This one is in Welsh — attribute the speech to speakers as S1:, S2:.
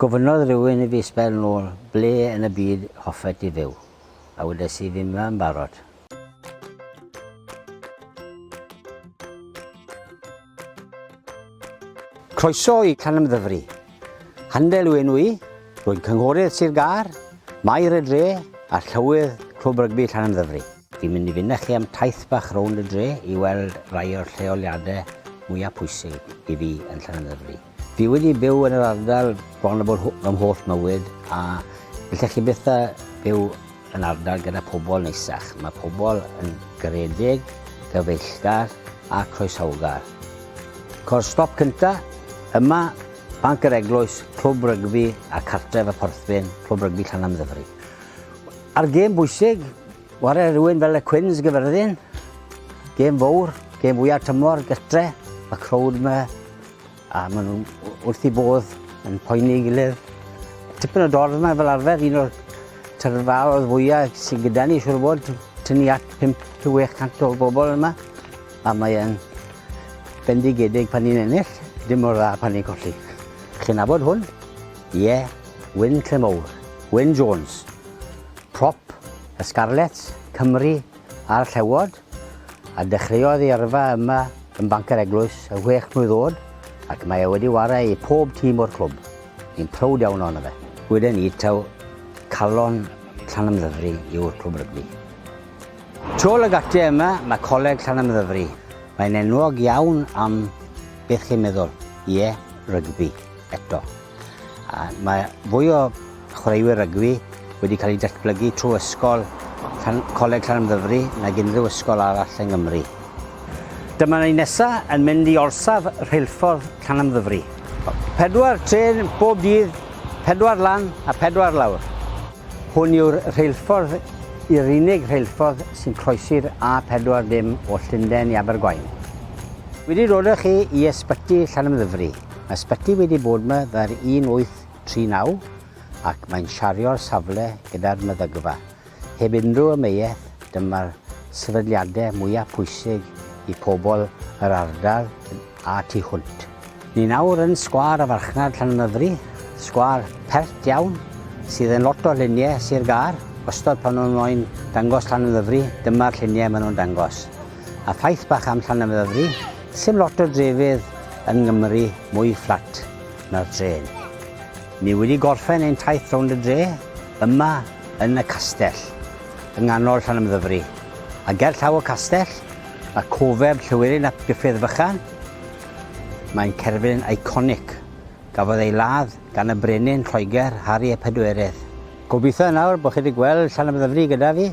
S1: Gofynnodd rhywun i fi sbel nôl, ble yn y byd hoffet ti fyw? A wedes i, fi'm yn barod. Croeso i Canymddyfri. Handel yw enw i, rwy'n cynghorydd Sir Gâr, Maer y Dre a Llywydd Clwb Rygbi Llanymddyfri. Fi'n mynd i fynd â chi am taith bach rownd y dre i weld rai o'r lleoliadau mwyaf pwysig i fi yn Llanymddyfri. Fi wedi byw yn yr ardal bron a bod fy mholl mywyd a gallech chi byth a byw yn ardal gyda pobl neisach. Mae pobl yn garedig, gyfeillgar a croesawgar. Cor stop cynta, yma, Banc yr Eglwys, Clwb Rygbi a Cartref y Porthbyn, Clwb Rygbi Llanymddyfri. Ar gêm bwysig, ware rhywun fel y Cwins gyfyrddin. Gêm fawr, gêm fwyaf tymor, gytre, y crowd yma. A maen nhw'n wrth i bodd yn poeni gilydd. Tipyn o dorf yma fel arfer, un o'r tyrfaodd fwyaf sy'n gyda ni, siwr bod, tyn ni at 5-800 o bobl yma. A mae'n bendigedig pan ni'n ennill, dim o'r dda pan ni'n colli. Chi'n nabod hwn? Ie, Wyn Clemowr, Wyn Jones, prop y Scarlets, Cymru a'r Llewod, a dechreuodd ei yrfa yma yn Banc yr Eglwys y chwech mlwydd oed ac mae e wedi ware i pob tîm o'r clwb. Ni'n prowd iawn ohono fe. Weden ni taw calon Llanymddyfri yw'r clwb rygbi. Tôl y gate yma mae Coleg Llanymddyfri. Mae'n enwog iawn am beth chi'n meddwl, ie, rygbi. eto. A mae fwy o chwaraewyr rygbi wedi cael eu datblygu trwy ysgol Coleg Llanymddyfri nag unrhyw ysgol arall yng Nghymru. Dyma ni nesaf yn mynd i orsaf rheilffordd Llanymddyfri. Pedwar trên bob dydd, pedwar lan a pedwar lawr. Hwn yw'r rheilffordd i'r unig rheilffordd sy'n croesi'r A40 o Llundain i Abergwaun. Wedi dod â chi i Ysbyty Llanymddyfri. Mae Sbyty wedi bod ma ddar 1839 ac mae'n siario'r safle gyda'r meddygfa. Heb unrhyw ameuaeth, dyma'r sefydliadau mwyaf pwysig i pobl yr ardal a tu hwnt. Ni nawr yn Sgwâr y Farchnad Llanymddyfri, sgwâr pert iawn sydd yn lot o lluniau Sir Gâr, wastod pan nhw'n moyn dangos Llanymddyfri, dyma'r lluniau maen nhw'n dangos. A ffaith bach am Llanymddyfri, sim lot o drefydd yn Nghymru mwy fflat na'r drên. Ni wedi gorffen ein taith rownd y dre, yma yn y castell, yng nghanol Llanymddyfri. A ger llaw y castell, mae cofeb Llywelyn ap Gruffydd Fychan. Mae'n cerflun iconic. Gafodd ei ladd gan y brenin Lloegr, Harri y Pedwerydd. Gobeithio nawr bod chi wedi gweld Llanymddyfri gyda fi.